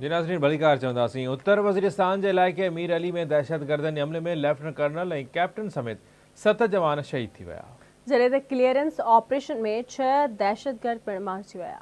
جي ناظرين ڀليڪار چونداسين. اتر وزيرستان جي علائقي مير علي ۾ دهشتگردن جي حملي ۾ ليفٽننٽ ڪرنل ۽ ڪئپٽن سميت ست جوان شهيد ٿي ويا. جڏهن ته ڪليئرنس آپريشن ۾ ڇهه دهشتگرد پڻ مارجي ويا.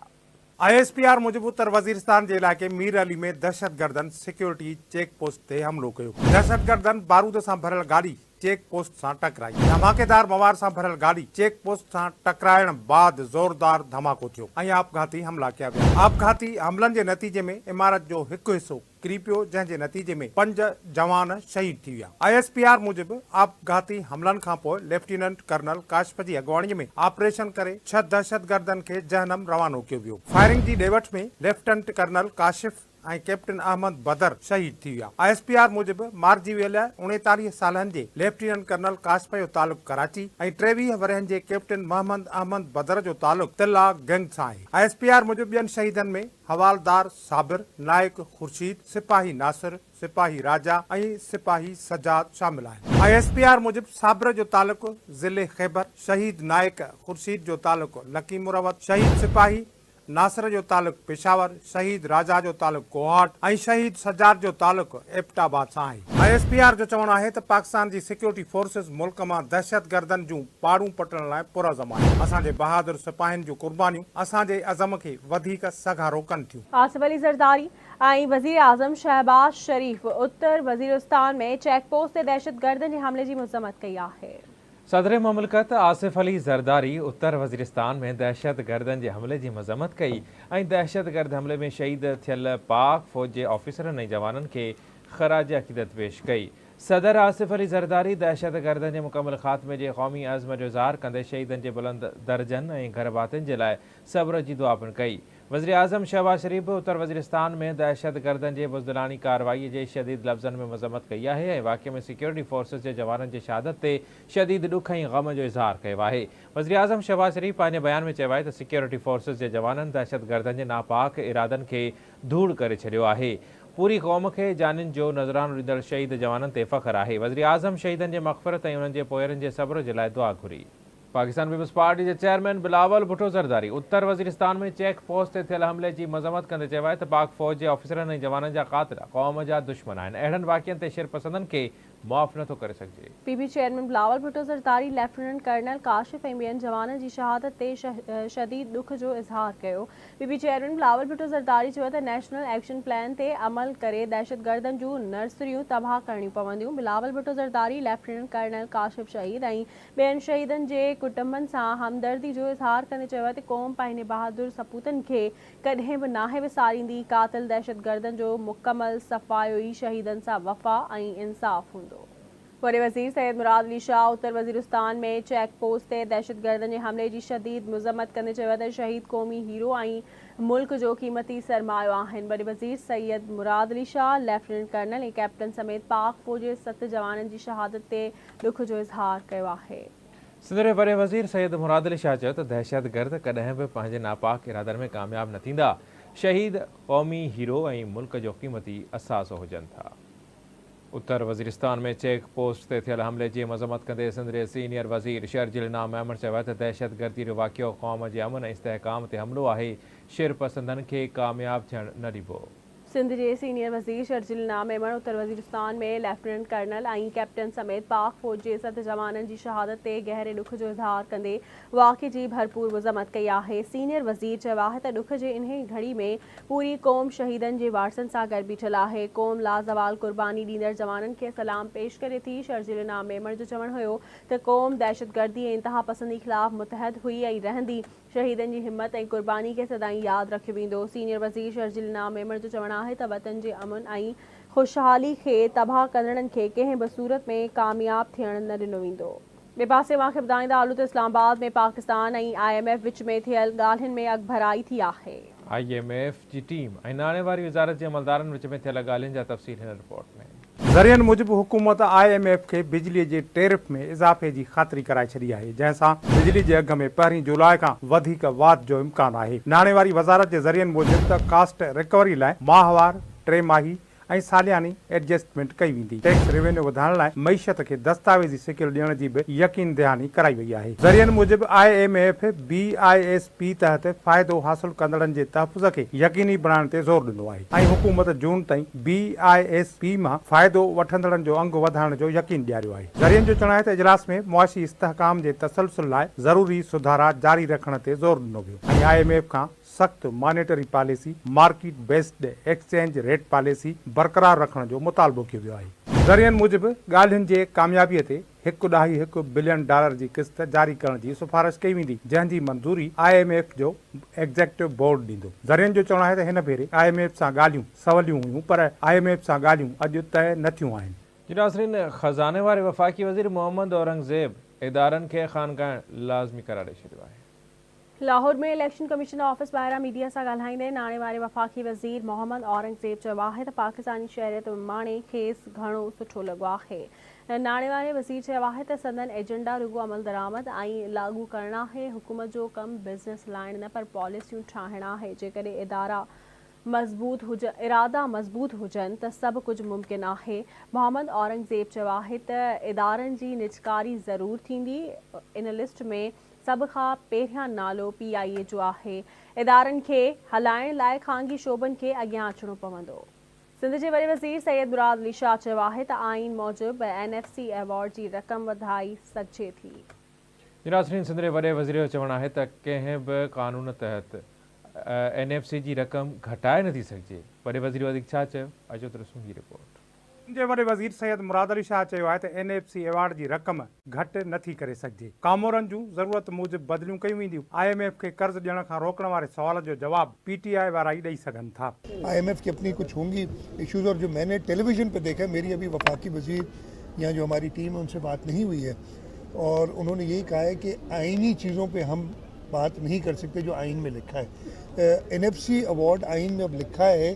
آء ايس پي آر موجب اتر وزيرستان جي علائقي مير علي ۾ دهشتگردن سيڪيورٽي چيڪ پوسٽ تي حملو ڪيو. دهشتگردن بارود سان ڀريل گاڏي چيڪ پوسٽ سان ٽڪرائي، ڌماڪيدار مواد سان ڀريل گاڏي چيڪ پوسٽ سان ٽڪرائڻ بعد زوردار ڌماڪو ٿيو ۽ آپگهاتي حملا ڪيا ويا، آپگهاتي حملن جي نتيجي ۾ عمارت جو هڪ حصو ڪري پيو جنهن جي نتيجي ۾ پنج جوان شهيد ٿي ويا، آء ايس پي آر موجب آپگهاتي حملن کانپوء ليفٽيننٽ ڪرنل ڪاشف جي اڳواڻي ۾ آپريشن ڪري ڇهه دهشتگردن کي جهنم روانو ڪيو ويو، فائرنگ جي ڏي وٺ ۾ lieutenant colonel Kashif ۽ captain Ahmed Badar شهيد ٿي ويا. آء ايس پي آر موجب مارجي ويل اڻيتاليهه سالن جي ليفٽيننٽ ڪرنل ڪاشف جو تعلق ڪراچي ۽ ٽيويهه ورهين جي ڪئپٽن محمد احمد بدر جو تعلق تلا گينگ سان آهي. آء ايس پي آر موجب ٻين شهيدن ۾ حوالدار صابر، نائڪ خورشيد، سپاهي ناصر، سپاهي راجا ۽ سپاهي سجاد شامل آهن. آء ايس پي آر موجب صابر جو تعلق ضلعي خيبر، شهيد نائڪ خورشيد جو تعلق لڪي مروت، شهيد سپاهي ناصر جو تعلق پشاور، شهيد راجا جو تعلق ڪوهاٽ ۽ شهيد سجاد جو تعلق ايبٽ آباد سان آهي. آء ايس پي آر جو چوڻ آهي ته پاڪستان جي سيڪيورٽي فورسز ملڪ مان دهشتگردن جون پاڙون پٽڻ لاء پرعزم آهي، اسان جي بهادر سپاهين جون قربانيون اسان جي عزم کي وڌيڪ سگهارو ڪن ٿيون. آصف علي زرداري ۽ وزيراعظم شهباز شريف اتر وزيرستان ۾ چيڪ پوسٽ تي دهشتگردن جي حملي جي مذمت ڪئي آهي. صدر مملڪت آصف علي زرداري اتر وزيرستان ۾ دهشتگردن جي حملي جي مذمت ڪئي ۽ دهشتگرد حملي ۾ شهيد ٿيل پاڪ فوج جي آفيسرن ۽ جوانن کي خراج عقيدت پيش ڪئي. صدر آصف علي زرداري دهشتگردن جي مڪمل خاتمي جي قومي عزم جو اظهار ڪندي شهيدن جي بلند درجن ۽ گهرڀاتين جي لاء صبر جي دعا پڻ ڪئي. وزيراعظم شهباز شريف به اتر وزيرستان ۾ دهشتگردن جي بزدلاڻي ڪارروائي جي شديد لفظن ۾ مذمت ڪئي آهي ۽ واقعي ۾ سيڪيورٽي فورسز جي جوانن جي شهادت تي شديد ڏک ۽ غم جو اظهار ڪيو آهي. وزيراعظم شهباز شريف پنهنجي بيان ۾ چيو آهي ته سيڪيورٽي فورسز جي جوانن دهشتگردن جي ناپاڪ ارادن کي ڌوڙ ڪري ڇڏيو آهي. پوري قوم کي جانين جو نذرانو ڏيندڙ شهيد جوانن تي فخر آهي. وزيراعظم شهيدن جي مغفرت ۽ انهن جي پوئرن جي صبر جي لاء دعا گهري. پاڪستان پيپلز پارٽي جي چيئرمين بلاول ڀٽو زرداري اتر وزيرستان ۾ چيڪ پوسٽ تي ٿيل حملي جي مذمت ڪندي چيو آهي ته پاڪ فوج جي آفيسرن ۽ جوانن جا قاتل قوم جا دشمن آهن، اهڙن واقعن تي شرپسندن کي معاف نٿو ڪري سگهجي. P P chairman Bilawal Bhutto Zardari lieutenant colonel Kashif ۽ ٻين جوانن جي شهادت تي شديد ڏک جو اظهار ڪيو. P P chairman Bilawal Bhutto Zardari چيو ته نيشنل ايڪشن پلان تي عمل ڪري دهشتگردن جون نرسريون تباهه ڪرڻيون پونديون، بلاول ڀٽو زرداري، ليفٽيننٽ ڪرنل ڪاشف شهيد ۽ ٻين شهيدن جي ڪٽنبن سان همدردي جو اظهار ڪندي چيو ته قوم پنهنجي بهادر سپوتن کي ڪڏهن به ناهي وساريندي، قاتل دهشتگردن جو مڪمل صفايو ئي شهيدن سان وفا ۽ انصاف هوندو. وڏي وزير سيد مراد علي شاهه اتر وزيرستان ۾ چيڪ پوسٽ تي دهشتگردن جي حملي جي شديد مذمت ڪندي چيو ته شهيد قومي هيرو ۽ ملڪ جو قيمتي سرمايو آهن، وڏي وزير Syed Murad Ali Shah lieutenant colonel ۽ captain سميت پاڪ فوج جي ست جوانن جي شهادت تي ڏک جو اظهار ڪيو آهي. سنڌ جي وڏي وزير سيد مراد علي شاهه چيو ته دهشتگرد ڪڏهن به پنهنجي ناپاڪ ارادن ۾ ڪامياب نه ٿيندا، شهيد قومي هيرو ۽ ملڪ جو قيمتي اثاثو هجن ٿا. اتر وزيرستان ۾ چيڪ پوسٽ تي ٿيل حملي جي مذمت ڪندي سنڌ جي سينيئر وزير شرجيل انعام ميمڻ چيو آهي ته دهشتگردي جو واقعو قوم جي امن ۽ استحڪام تي حملو آهي، شرپسندن کي ڪامياب ٿيڻ نه ڏبو. سنڌ جي سينيئر وزير شرجيل الناء ميمڻ اتر وزيرستان ۾ ليفٽيننٽ ڪرنل ۽ ڪئپٽن سميت پاڪ فوج جي ست جوانن جي شهادت تي گهري ڏک جو اظهار ڪندي واقعي جي ڀرپور مذمت ڪئي آهي. سينيئر وزير چيو آهي ته ڏک جي انهي گهڙي ۾ پوري قوم شهيدن جي وارثن سان گڏ بيٺل آهي. قوم لازوال قرباني ڏيندڙ جوانن کي سلام پيش ڪري ٿي. شرجيل الناء ميمڻ جو چوڻ هيو ته قوم دهشتگردي ۽ انتهاپسندي خلاف متحد هئي ۽ رهندي. شهيدن جي همت ۽ قرباني کي سدائين ياد رکيو ويندو. سينيئر وزير شرجيل انعام ميمڻ جو چوڻ آهي ته وطن جي امن ۽ خوشحالي کي تباهه ڪندڙن کي ڪنهن به صورت ۾ ڪامياب ٿيڻ نه ڏنو ويندو. ٻئي پاسي اوهان کي ٻڌائيندا هلون ته Islamabad ۾ Pakistan ۽ I M F وچ ۾ ٿيل ڳالهين ۾ اڳڀرائي ٿي آهي. آء ايم ايف جي ٽيم ۽ ناڻي واري وزارت جي عملدارن وچ ۾ ٿيل ڳالهين جا تفصيل هن رپورٽ ۾. ذريعن موجب حڪومت آء ايم ايف کي بجلي جي ٽيرف ۾ اضافي جي خاطري ڪرائي ڇڏي آهي جنهن سان بجلي جي اگهه ۾ پهرين جولاء کان وڌيڪ واڌ جو امڪان آهي. ناڻي واري وزارت جي ذريعن موجب ته ڪاسٽ رڪوري لاء ماهوار، ٽي ماهي ۽ سالياني ايڊجسٽمينٽ ڪئي ويندي. ٽيڪس ريونيو وڌائڻ لاء معيشت کي دستاويزي شڪل ڏيڻ جي به يقين دهاني ڪرائي وئي آهي. ذريعن موجب I M F, B I S P تحت فائدو حاصل ڪندڙن جي تحفظ کي يقيني بڻائڻ تي زور ڏنو آهي ۽ حڪومت جون تائين بي آء ايس پي مان فائدو وٺندڙن جو انگ وڌائڻ جو يقين ڏياريو آهي. ذريعن جو چوڻ آهي ته اجلاس ۾ معاشي استحڪام جي تسلسل لاء ضروري سڌارا جاري رکڻ تي زور ڏنو ويو ۽ آء ايم ايف کان سخت monetary policy, market based exchange rate policy, برقرار رکڻ جو مطالبو ڪيو ويو آهي. ذريعن موجب ڳالهين جي ڪاميابي تي هڪ ڏهائي هڪ بلين ڊالر جي قسط جاري ڪرڻ جي سفارش ڪئي ويندي جنهن جي منظوري آء ايم ايف جو ايگزيڪٽو بورڊ ڏيندو. ذريعن جو چوڻ آهي ته هن ڀيري آء ايم ايف سان ڳالهيون سوليون هيون پر آء ايم ايف سان ڳالهيون اڄ طئي نه ٿيون آهن. جي ناظرين خزاني واري وفاقي وزير محمد اورنگزيب ادارن کي خانگائڻ لازمي قرار ڏئي ڇڏيو آهي. لاهور ۾ اليڪشن ڪميشن آفيس ٻاهران ميڊيا سان ڳالهائيندي ناڻي واري وفاقي وزير محمد اورنگزيب چيو آهي ته پاڪستاني شهريت ماڻي کيس گهڻو سٺو لڳو آهي. ناڻي واري وزير چيو آهي ته سندن ايجنڊا رڳو عملدرآمد ۽ لاڳو ڪرڻ آهي، حڪومت جو ڪم بزنس هلائڻ نه پر پاليسيون ٺاهڻ آهي، جيڪڏهن ادارا مضبوط هجن، ارادا مضبوط هجن ته سڀ ڪجهه ممڪن آهي. محمد اورنگزيب چيو آهي ته ادارن جي نجڪاري ضرور ٿيندي، ان لسٽ ۾ سڀ کان پهريان نالو پي آء اي جو آهي، ادارن کي هلائڻ لاء خانگي شعبن کي اڳيان اچڻو پوندو. سنڌ جي وڏي وزير سيد مراد علي شاهه چيو آهي ته آئين موجب اين ايف سي ايوارڊ جي رقم وڌائي سگهجي ٿي. ناصرين سنڌ جي وڏي وزير جو چوڻ آهي ته ڪنهن به قانون تحت اين ايف سي جي رقم گهٽائي نٿي سگهجي، وڏي وزير وڌيڪ ڇا چيو اچو ته ڏسون هي رپورٽ. جي وڏي وزير سيد مراد علي شاهه چيو آهي ته اين ايف سي ايوارڊ جي رقم گهٽ نه ٿي ڪري سگهجي، ڪامورن جون ضرورت موجب بدليون ڪيون وينديون، آء ايم ايف کي قرض ڏيڻ کان روڪڻ واري سوال جو جواب پي ٽي آء وارا ئي ڏئي سگهن ٿا. آء ايم ايف کي اپني ڪجهه هونگي اشوز اور جو مين ني ٽيلي ويزن پي ديکا هي ميري ابهي وفاقي وزير يا جو هماري ٽيم هي ان سي بات نهين هئي هي اور انهون ني يهي ڪها هي ڪي آئيني چيزون پي هم بات نهين ڪر سڪتي جو آئين مين لکا هي اين ايف سي ايوارڊ آئين مين اب لکا هي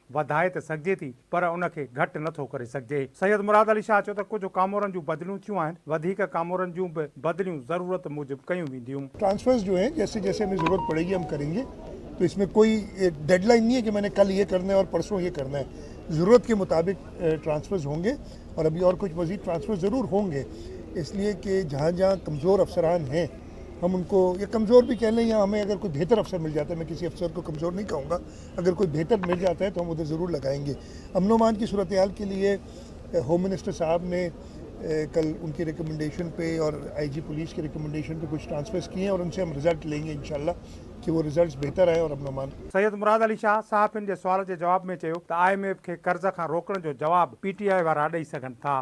وڌائي ته سگهجي ٿي پر ان کي گهٽ نه ٿو ڪري سگهجي. سيد مراد علي شاهه چيو ته ڪجهه ڪامورن جون بدليون ٿيون آهن، وڌيڪ ڪامورن جون به بدليون ضرورت موجب ڪيون وينديون. ٽرانسفرز جو هي جيسي جيسي همي ضرورت پڙي گي هم ڪرين گي تو اس مين ڪوئي ڊيڊ لائين نهي هي ڪي مين ني ڪل هي ڪرنا هي اور پرسون هي ڪرنا هي ضرورت ڪي مطابق ٽرانسفرز هون گي اور ابهي اور ڪجهه مزيد ٽرانسفرز ضرور هون گي اس ليئي ڪي جهان جهان ڪمزور افسران هي هم ان ڪو يا ڪمزور بهي ڪهه لين يا همي اگر ڪوئي بهتر افسر مل جاتا هي مين ڪسي افسر ڪو ڪمزور نهي ڪهون گا. اگر ڪوئي بهتر مل جاتا هي تو هم ادھر ضرور لگائين گي امن و امان ڪي صورتحال ڪي ليي هوم منسٽر صاحب ني ڪل ان ڪي ريڪمنڊيشن پي اور آئي جي پوليس ڪي ريڪمنڊيشن پي ڪچھ ٽرانسفرس ڪيي هين اور ان سي هم رزلٽ لين گي انشاء الله ڪي وو رزلٽس بهتر آئين اور امن و امان سيد مراد علي شاهه صحافين جي سوال جي جواب ۾ چيو ته آء ايم ايف کي قرض کان روڪڻ جو جواب پي ٽي آء وارا ڏئي سگهن ٿا.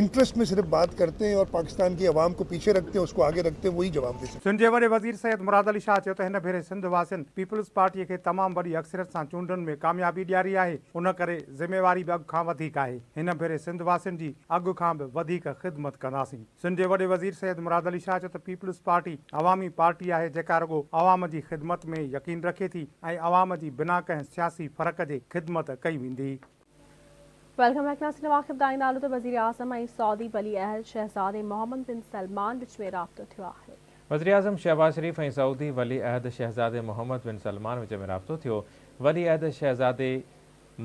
انٽرسٽ مين صرف بات ڪرتي هين اور پاڪستان ڪي عوام ڪو پيڇي رکتي هين اسڪو آگي رکتي هين وهي جواب دي سڪتي هين. سنڌ جي وڏي وزير سيد مراد علي شاهه چيو ته هن ڀيري سنڌ واسين پيپلز پارٽي کي تمام وڏي اڪثريت سان چونڊن ۾ ڪاميابي ڏياري آهي ان ڪري ذميواري به اڳ کان وڌيڪ آهي هن ڀيري سنڌ واسين جي اڳ کان به وڌيڪ خدمت ڪنداسين سنڌ جي وڏي وزير سيد مراد علي شاهه چيو ته پيپلز پارٽي عوامي پارٽي آهي جيڪا رڳو عوام جي خدمت ۾ يقين رکي ٿي ۽ عوام جي بنا ڪنهن سياسي فرق جي خدمت ڪئي ويندي. ويلڪم بيڪ ناصر نواخب داني نالو ته وزيراعظم ۽ سعودي ولي عهد شهزادي محمد بن سلمان وچ ۾ رابطو ٿيو آهي. وزيراعظم شهباز شريف ۽ سعودي ولي عهد شهزادي محمد بن سلمان وچ ۾ رابطو ٿيو، ولي عهد شهزادي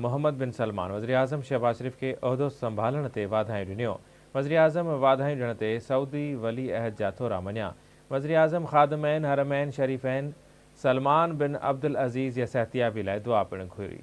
محمد بن سلمان وزيراعظم شهباز شريف کي عهدو سنڀالڻ تي واڌايون ڏنيو، وزيراعظم واڌايون ڏيڻ تي سعودي ولي عهد جا ٿورا مڃيا، وزيراعظم خادمين حرمين شريفين سلمان بن عبدالعزيز جي صحتيابي لاء دعا پڻ گهري.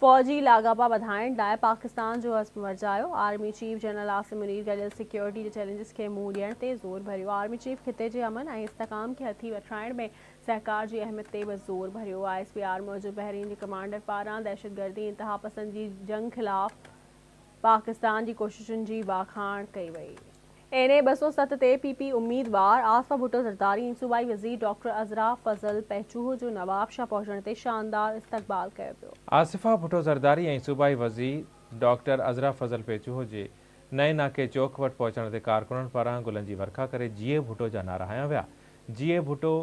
فوجي لاڳاپا وڌائڻ لاء پاڪستان جو عزم ورجايو، army chief general Asim Munir گڏيل سيڪيورٽي جي چئلينجز کي منهن ڏيڻ تي زور ڀريو، آرمي چيف خطي جي امن ۽ استحڪام کي هٿي وٺرائڻ ۾ سهڪار جي اهميت تي به زور ڀريو، آء ايس پي آر موجب بحرين جي ڪمانڊر پاران دهشتگردي انتهاپسندي جي جنگ خلاف پاڪستان جي ڪوششن جي واکاڻ ڪئي وئي. اين اي ٻه سؤ ست تي پي پي اميدوار آصفه ڀٽو زرداري ۽ صوبائي وزير ڊاڪٽر عذرا فضل پهچوهو جو نوابشاهه پهچڻ تي شاندار استقبال ڪيو ويو. آصفه ڀٽو زرداري ۽ صوبائي وزير ڊاڪٽر عذرا فضل پهچوهو جي نئين ناڪي چوڪ وٽ پهچڻ تي ڪارڪنن پاران گلن جي ورکا ڪري جيئي ڀٽو جا نعرا هنيا ويا جيئي ڀٽو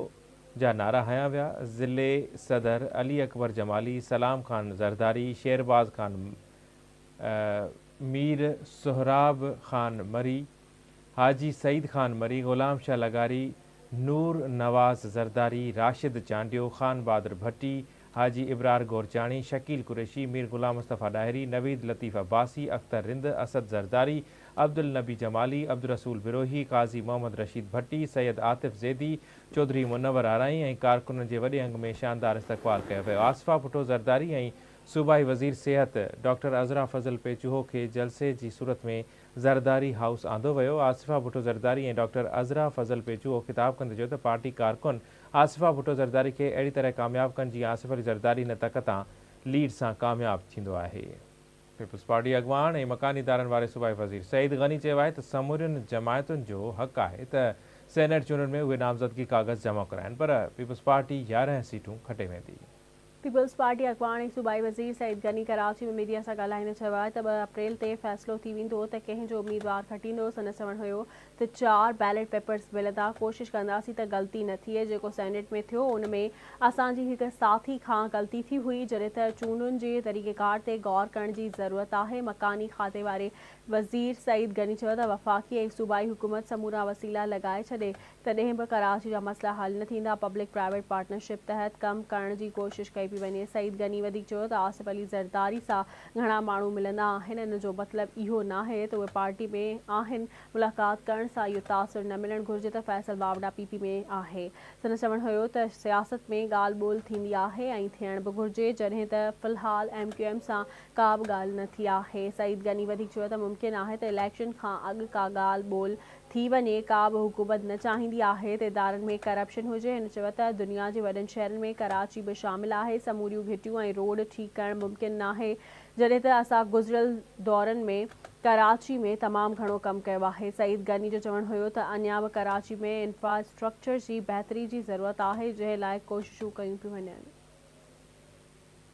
جا نعرا هنيا ويا ضلعي صدر علي اڪبر جمالي سلام خان زرداري شيرباز خان مير سهراب خان مري، حاجي سعيد خان مري، غلام شاهه لغاري، نور نواز زرداري، راشد چانڊيو، خان بهادر ڀٽي، حاجي ابرار گورچاڻي، شڪيل قريشي، مير غلام مصطفيٰ ڏاهري، نويد لطيف عباسي، اختر رند، اسد زرداري، عبدالنبي جمالي، عبدالرسول بروهي، قاضي محمد رشيد ڀٽي، سيد عاطف زيدي، چوڌري منور آرائين ۽ ڪارڪنن جي وڏي انگ ۾ شاندار استقبال ڪيو ويو. آصفه ڀٽو زرداري ۽ صوبائي وزير صحت ڊاڪٽر عذرا فضل پيچوهو کي جلسي جي صورت ۾ زرداري هائوس آندو ويو، آصفه ڀٽو زرداري ۽ ڊاڪٽر عذرا فضل پيچوهو خطاب ڪندي چيو ته پارٽي ڪارڪن آصفه ڀٽو زرداري کي اهڙي طرح ڪامياب ڪن جيئن آصف علي زرداري هن تڪ تان ليڊ سان ڪامياب ٿيندو آهي. پيپلز پارٽي اڳواڻ ۽ مڪاني ادارن واري صوبائي وزير سعيد غني چيو آهي ته سمورين جماعتن جو حق آهي ته سينيٽ چونڊن ۾ اهي نامزدگي ڪاغذ جمع ڪرائين پر پيپلز پارٽي يارهن سيٽون کٽي ويندي. پيپلز پارٽي اڳواڻ ۽ صوبائي وزير سعيد غني ڪراچي ۾ ميڊيا سان ڳالهائيندي چيو آهي ته ٻه اپريل تي فيصلو ٿي ويندو ته ڪنهن جو اميدوار کٽيندو، سندس چوڻ هيو ته چار بيلٽ پيپرز ملندا، ڪوشش ڪنداسين ته غلطي نه ٿئي، جيڪو سينيٽ ۾ ٿيو ان ۾ اسان جي هڪ ساٿي کان غلطي ٿي هئي، جڏهن ته چونڊن جي طريقيڪار تي غور ڪرڻ جي ضرورت آهي، مڪاني کاتي واري وزير سعيد غني چيو ته وفاقي ۽ صوبائي حڪومت سمورا وسيلا لڳائي ڇڏي تڏهن به ڪراچي جا مسئلا حل نه ٿيندا، پبلڪ پرائيويٽ پارٽنرشپ تحت ڪم ڪرڻ جي ڪوشش ڪئي پئي وڃي، سعيد غني وڌيڪ چيو ته آصف علي زرداري سان گهڻا ماڻهو ملندا آهن، ان جو مطلب اهو ناهي ته اهي پارٽي ۾ آهن، ملاقات ڪرڻ سان اهو تاثر نه ملڻ گهرجي ته فيصل واوڊا پي پي ۾ آهي، سندس چوڻ هيو ته سياست ۾ ڳالهه ٻولهه ٿيندي آهي ۽ ٿيڻ به گهرجي، جڏهن ته في الحال ايم ڪيو ايم سان ڪابه ڳالهه نه ٿي آهي، سعيد غني وڌيڪ چيو ته ممڪن آهي ته اليڪشن کان اڳ ڪا ڳالهه ٻولهه ٿي وڃي ڪا به حڪومت نه چاهيندي آهي ته ادارن ۾ ڪرپشن هجي هن چيو ته دنيا جي وڏن شهرن ۾ ڪراچي به شامل آهي سموريون گهٽيون ۽ روڊ ٺيڪ ڪرڻ ممڪن ناهي جڏهن ته اسان گذريل دورن ۾ ڪراچي ۾ تمام گهڻو ڪم ڪيو آهي سعيد غني جو چوڻ هيو ته اڃا به ڪراچي ۾ انفراسٽرڪچر جي بهتري جي ضرورت آهي جنهن لاء ڪوششون ڪيون پيون وڃن.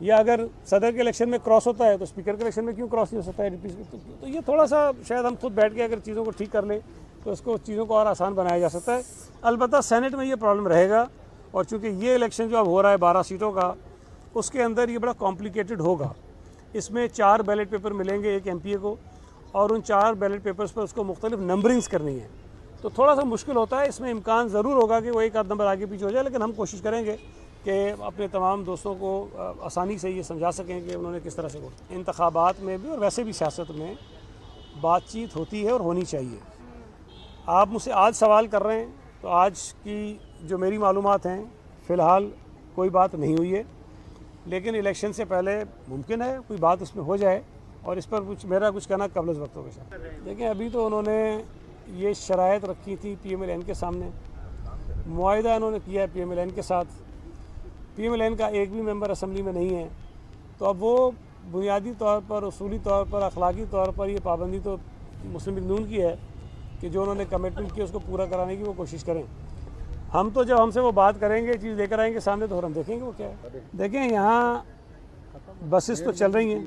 يا اگر صدر کي اليڪشن ۾ ڪراس هوتا هي تو اسپيڪر کي اليڪشن ۾ ڪيون ڪراس نهي هو سڪتا هي تو يي ٿوڙا سا شايد هم خود بيٺ ڪي اگر چيزون ڪو ٺيڪ ڪر لي تو اس ڪو چيزون ڪو اور آسان بنايا جا سڪتا هي البته سينيٽ ۾ يي پرابلم رهي گا اور چونڪه يي اليڪشن جو اب هو رها هي بارهه سيٽون ڪا اس ڪي اندر يي بڙا ڪامپليڪيٽيڊ هو گا اس مين چار بيليٽ پيپر ملين گي ايڪ ايم پي اي ڪو اور ان چار بيليٽ پيپرس پر اس ڪو مختلف نمبرنگس ڪرني هي تو ٿوڙا سا مشڪل هوتا هي اس مين امڪان ضرور هو گا ڪي وو ايڪ آد نمبر آگي پيڇي هو جايي ليڪن هم ڪوشش ڪرين گي ڪي اپني تمام دوستون ڪو آساني سي يي سمجها سڪين ڪي انهون ني ڪس طرح سي ووٽ انتخابات مين بي اور ويسي بي سياست مين بات چيت هوتي هي اور هوني چاهيي آپ مجھ سي آج سوال ڪر رهي هين تو آج ڪي جو ميري معلومات هين في الحال ڪوئي بات نهي هوئي هي ليڪن اليڪشن سي پهلي ممڪن هي ڪوئي بات اس مين هو جائي اور اس پر ميرا ڪچھ ڪهنا قبل از وقت هو گا شايد ليڪن ابي تو انهون ني يي شرائط رکي ٿي پي ايم ايل اين ڪي سامني معاهده انهون ني ڪيا هي پي ايم ايل اين ڪي ساٿ پي ايم ايل اين ڪا ايڪ بي ميمبر اسمبلي مي نهي هي تو اب وو بنيادي طور پر اصولي طور پر اخلاقي طور پر يي پابندي تو مسلم ليگ نون ڪي هي ڪي جو انهون ني ڪميٽمنٹ ڪي اس ڪو پورا ڪراڻي ڪي وو ڪوشش ڪرين هم تو جب هم سي وو بات ڪرين گي چيز ليڪر آئين گي سامني تو هم ديکين گي وو ڪيا هي ديکين يهان بسس تو چل رهي هين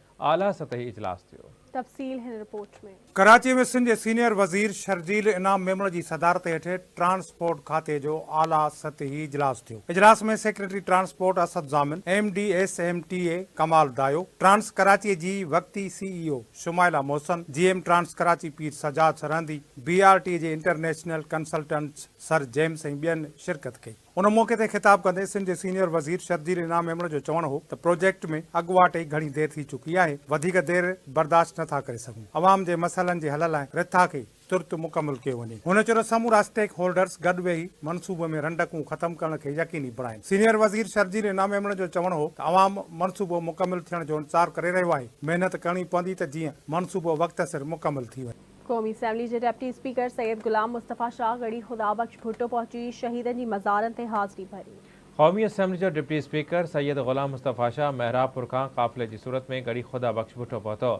اعليٰ سطحي اجلاس ٿيو. تفصيل هن رپورٽ ۾. ڪراچي ۾ سنڌ جي سينيئر وزير شرجيل انعام ميمڻ جي صدارت هيٺ ٽرانسپورٽ کاتي جو اعليٰ سطحي اجلاس ٿيو. اجلاس ۾ secretary transport Asad Zamin, M D S M T A Kamal Dayo, trans Karachi جي وقتي C E O Shumaila Mohsin, G M trans Karachi Pir Sajjad Sirhindi, B R T جي انٽرنيشنل ڪنسلٽنٽس سر جيمس ۽ ٻين شرڪت ڪئي. ان موقعي تي خطاب ڪندي سنڌ جي سينيئر وزير شرجيل انعام ميمڻ جو چوڻ هو ته پروجيڪٽ ۾ اڳواٽ ئي گهڻي دير ٿي چڪي آهي، وڌيڪ دير برداشت نٿا ڪري سگهون، عوام جي مسئلن جي حل لاء رٿا کي ترت مڪمل ڪيو وڃي. هن چيو ته سمورا اسٽيڪ هولڊرز گڏ ويهي منصوبي ۾ رنڊڪون ختم ڪرڻ کي يقيني بڻائين. سينيئر وزير شرجيل انعام ميمڻ جو چوڻ هو ته عوام منصوبو مڪمل ٿيڻ جو انتظار ڪري رهيو آهي، محنت ڪرڻي پوندي ته جيئن منصوبو وقت سر مڪمل ٿي وڃي. قومي اسيمبلي جي ڊپٽي اسپيڪر سيد غلام مصطفيٰ شاهه ڳڙهي خدا بخش ڀٽو پهچي شهيدن جي مزارن تي حاضري ڀري. قومي اسيمبلي جو deputy speaker Syed Ghulam Mustafa Shah Mehrabpur کان قافلي جي صورت ۾ ڳڙهي خدا بخش ڀٽو پهتو.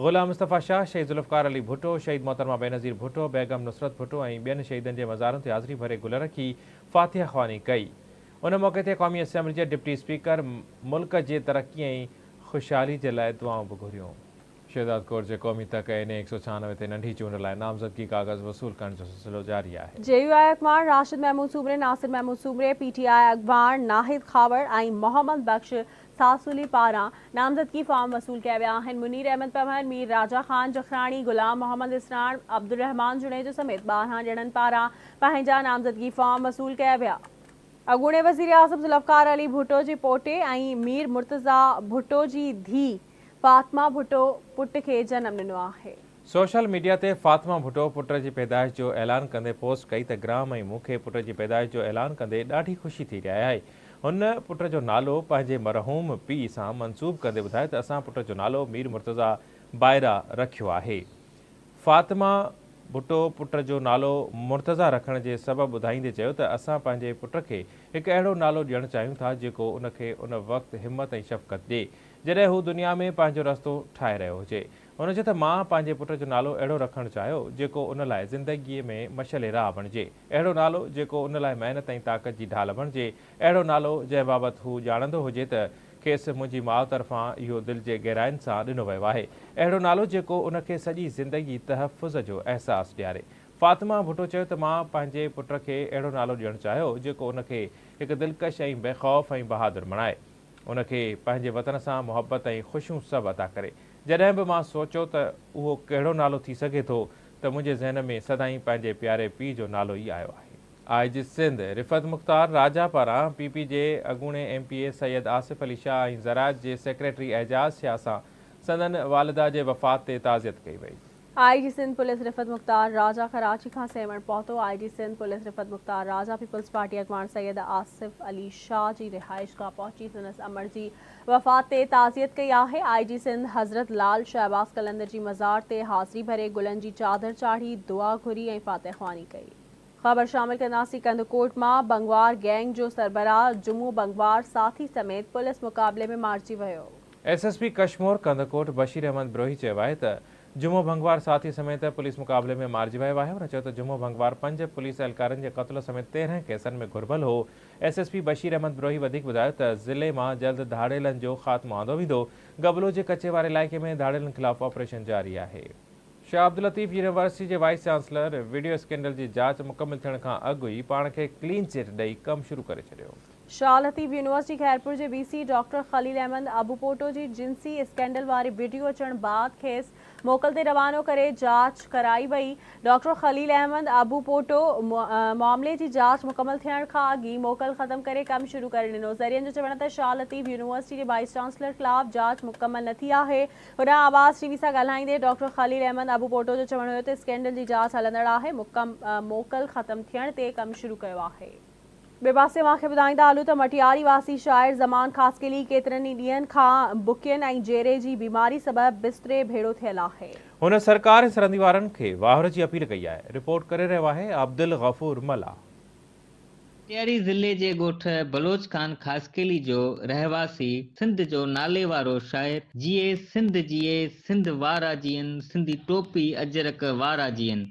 غلام مصطفيٰ شاهه شهيد ذوالفقار علي ڀٽو، شهيد محترمه بينظير ڀٽو، بيگم نصرت ڀٽو ۽ ٻين شهيدن جي مزارن تي حاضري ڀري گل رکي فاتحه خواني ڪئي. ان موقعي تي قومي اسيمبلي جي ڊپٽي اسپيڪر ملڪ جي ترقي ۽ خوشحالي جي لاء دعائون به گهريون. شهداد ڪور جي قومي تڪ اين اي هڪ سؤ ڇهانوي تي ننڍي چونڊ لاء نامزدگي ڪاغذ وصول ڪرڻ جو سلسلو جاري آهي. جي يو آء اڳواڻ راشد محمود سومري، ناصر محمود سومري، پي ٽي آء اڳواڻ ناهيد کهاوڙ ۽ محمد بخش ساسولي پاران نامزدگي فارم وصول ڪيا ويا آهن، منير احمد پنهور، مير راجا خان جکراڻي، غلام محمد اسراڻ، عبدالرحمان جوڻيجو سميت ٻارهن ڄڻن پاران پنهنجا نامزدگي فارم وصول ڪيا ويا. اڳوڻي وزيراعظم ذوالفقار علي ڀٽو جي پوٽي ۽ مير مرتضيٰ ڀٽو جي ڌيء فاطمه ڀٽو پٽ کي جنم ڏنو آهي. سوشل ميڊيا تي فاطمه ڀٽو پٽ جي پيدائش جو اعلان ڪندي پوسٽ ڪئي ته گرام ۽ مون کي پٽ جي پيدائش جو اعلان ڪندي ڏاڍي خوشي ٿي رهي آهي. هن پٽ جو نالو پنهنجي مرحوم پيء سان منسوب ڪندي ٻڌايو ته اسان پٽ جو نالو مير مرتضيٰ بائرا رکيو آهي. فاطمه ڀٽو پٽ جو نالو مرتضيٰ رکڻ جي سبب ٻڌائيندي چيو ته اسان پنهنجي پٽ کي هڪ اهڙو نالو ڏيڻ چاهيون ٿا جيڪو ان کي ان وقت همت ۽ شفقت ڏي جڏهن هو دنيا ۾ پنهنجو رستو ٺاهي رهيو هجي. هن چيو ته مان پنهنجي پٽ جو نالو اهڙو رکڻ چاهيو جيڪو ان لاء زندگيء ۾ مشعل راهه بڻجي، اهڙو نالو جيڪو ان لاء محنت ۽ طاقت جي ڍال بڻجي، اهڙو نالو جنهن بابت هو ڄاڻندو هجي ته کيس منهنجي ماء طرفان اهو دل جي گهراين سان ڏنو ويو آهي، اهڙو نالو جيڪو ان کي سڄي زندگي تحفظ جو احساس ڏياري. فاطمه ڀٽو چيو ته مان پنهنجي پٽ کي اهڙو نالو ڏيڻ چاهيو جيڪو ان کي هڪ دلڪش ۽ بيخوف ۽ بهادر بڻائي. ان کي پنهنجي وطن سان محبت ۽ خوشيون سڀ عطا ڪري. جڏهن به مان سوچيو ته اهو ڪهڙو نالو ٿي سگهي ٿو ته منهنجي ذهن ۾ سدائين پنهنجي پياري پيء جو نالو ئي آيو آهي. آء جي سنڌ رفعت مختار راجا پاران پي پي جي اڳوڻي M P A Syed Asif Ali Shah ۽ زراعت جي سيڪريٽري اعجاز شاهه سان سندن والده جي وفات تي تعزيت ڪئي وئي. آء جي سنڌ پوليس رفعت مختار راجا ڪراچي کان سيوهڻ پهتو، I G Sindh police Rifat Mukhtar Raja peoples party اڳواڻ سيد آصف علي شاهه جي رهائشگاهه پهچي سندس امڙ جي وفات تي تعزيت ڪئي آهي، آء جي سنڌ حضرت لال شهباز قلندر جي مزار تي حاضري ڀري گلن جي چادر چاڙهي دعا گهري ۽ فاتح خواني ڪئي. خبر شامل ڪنداسين ڪنڌڪوٽ مان بنگوار گينگ جو سربراهه جمعو بنگوار ساٿي سميت پوليس مقابلي ۾ مارجي ويو. S S P Kashmore Kandhkot Bashir Ahmed Brohi چيو آهي ته جمعو ڀنگوار ساٿي سميت پوليس مقابلي ۾ مارجي ويو آهي هن چيو ته جمعو ڀنگوار پنج پوليس اهلڪارن جي قتل سميت تيرهن ڪيسن ۾ گهربل هو S S P Bashir Ahmed Brohi وڌيڪ ٻڌايو ته ضلعي مان جلد ڌاڙيلن جو خاتمو آندو ويندو گبلو جي ڪچي واري علائقي ۾ ڌاڙيلن خلاف آپريشن جاري آهي. شاهه عبداللطيف يونيورسٽي جي وائيس چانسلر وڊيو اسڪينڊل جي جاچ مڪمل ٿيڻ کان اڳ ئي پاڻ کي ڪلين چٽ ڏئي ڪم شروع ڪري ڇڏيو. شاهه لطيف يونيورسٽي خيرپور جي V C doctor Khalil Ahmed Abupoto جي جنسي اسڪينڊل واري وڊيو اچڻ بعد کيس موڪل تي روانو ڪري جاچ ڪرائي وئي ڊاڪٽر خليل احمد ابوپوٽو معاملي جي جاچ مڪمل ٿيڻ کان اڳ ئي موڪل ختم ڪري ڪم شروع ڪري ڏنو ذريعن جو چوڻ ته شاهه لطيف يونيورسٽي جي وائيس چانسلر خلاف جاچ مڪمل نه ٿي آهي هوڏانهن آواز ٽي وي سان ڳالهائيندي ڊاڪٽر خليل احمد ابوپوٽو جو چوڻ هيو ته اسڪينڊل جي جاچ هلندڙ آهي موڪل ختم ٿيڻ تي ڪم شروع ڪيو آهي ٻئي پاسي اوهان کي ٻڌائيندا هلون ته مٽياري واسي شاعر زمان خاصخيلي ڪيترن ئي ڏينهن کان بکين ۽ جيري جي بيماري سبب بستري ڀيڙو ٿيل آهي. هن سرڪار سرندي وارن کي واهر جي اپيل ڪئي آهي. رپورٽ ڪري رهيو آهي عبدالغفور ملاح. مٽياري ضلعي جي ڳوٺ بلوچ خان خاصخيلي جو رهواسي سنڌ جو ناليوارو شاعر جيئي سنڌ جيئي سنڌ وارا جيئن سنڌي ٽوپي اجرڪ وارا جيئن.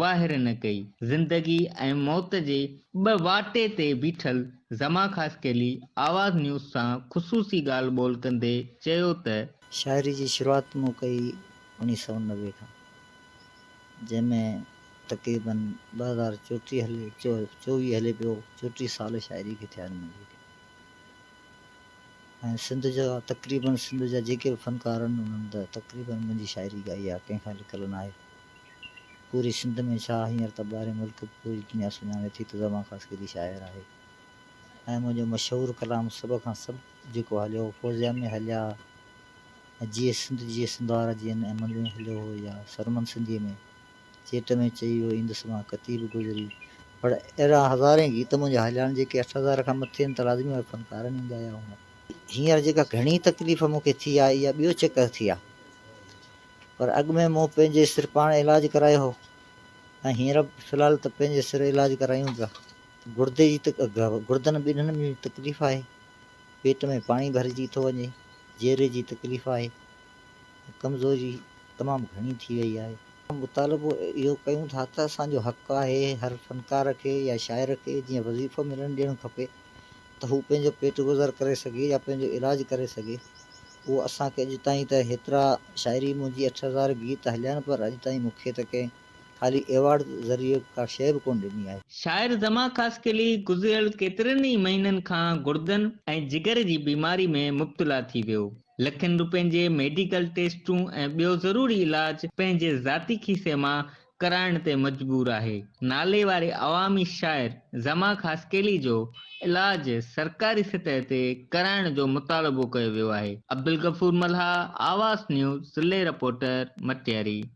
واهر نه ڪئي. زندگي ۽ موت جي ٻه واٽي تي بيٺل زمان خاصخيلي آواز نيوز سان خصوصي ڳالهه ٻولهه ڪندي چيو ته. شاعري جي شروعات مون ڪئي اوڻيهه سؤ نوي کان جنهن ۾ تقريباً ٻه هزار چوٽيهه هلي چوويهه هلي پيو چوٽيهه سال شاعري کي ٿيا آهن ۽ سنڌ جا تقريباً سنڌ جا جيڪي به فنڪار آهن انهن ته تقريباً منهنجي شاعري ڳائي آهي ڪنهن کان لڪل ناهي. پوري سنڌ ۾ ڇا هينئر ته ٻاهرين ملڪ به پوري دنيا سڃاڻي ٿي ته زمان خان سيدي شاعر آهي ۽ منهنجو مشهور ڪلام سڀ کان سڀ جيڪو هليو هو فوزيا ۾ هليا ۽ جيئي سنڌ جيئي سنڌوار جيئن ۽ منڌ ۾ هليو هو يا سرمن سنڌيء ۾ چيٽ ۾ چئي ويو ايندس مان ڪتي به گذري پڙ اهڙا هزارين گيت منهنجا هليا آهن جيڪي اٺ هزار کان مٿي آهن ته لازمي اهي فنڪارن ئي ڳايا هوندا. هينئر جيڪا گهڻي تڪليف مون کي ٿي آهي اها ٻيو چڪر ٿي آهي. پر اڳ ۾ مون پنهنجي سر پاڻ علاج ڪرايو هو ۽ هينئر في الحال ته پنهنجي سر علاج ڪرايون ٿا. گڙدي جي تڪ گڙدن ٻنهن ۾ تڪليف آهي، پيٽ ۾ پاڻي ڀرجي ٿو وڃي، جيري جي تڪليف آهي ۽ ڪمزوري تمام گهڻي ٿي وئي آهي. اسان مطالبو اهو ڪيون ٿا ته اسان جو حق آهي هر فنڪار کي يا شاعر کي جيئن وظيفو ملڻ ڏيڻ کپي ته هو پنهنجو پيٽ گذر ڪري سگهي يا پنهنجو علاج ڪري سگهي اهو اسان کي اڄ تائين ته هيترا شاعري منهنجي اٺ هزار گيت هليا آهن پر اڄ تائين مون کي ته ڪنهن خالي ايوارڊ ذريعي ڪا شيء به ڪونه ڏني آهي. شاعر زمان خاصخيلي گذريل ڪيترن ئي مهينن کان گڙدن ۽ جگر جي بيماري ۾ مبتلا ٿي ويو. لکين روپين جي ميڊيڪل ٽيسٽون ۽ ٻيو ضروري علاج پنهنجي ذاتي کيسي مان ڪرائڻ تي مجبور آهي. ناليواري عوامي شاعر زمان خاصخيلي جو علاج سرڪاري سطح تي ڪرائڻ جو مطالبو ڪيو ويو آهي. عبدالغفور ملهاء، آواز نيوز، ضلعي رپورٽر، مٽياري.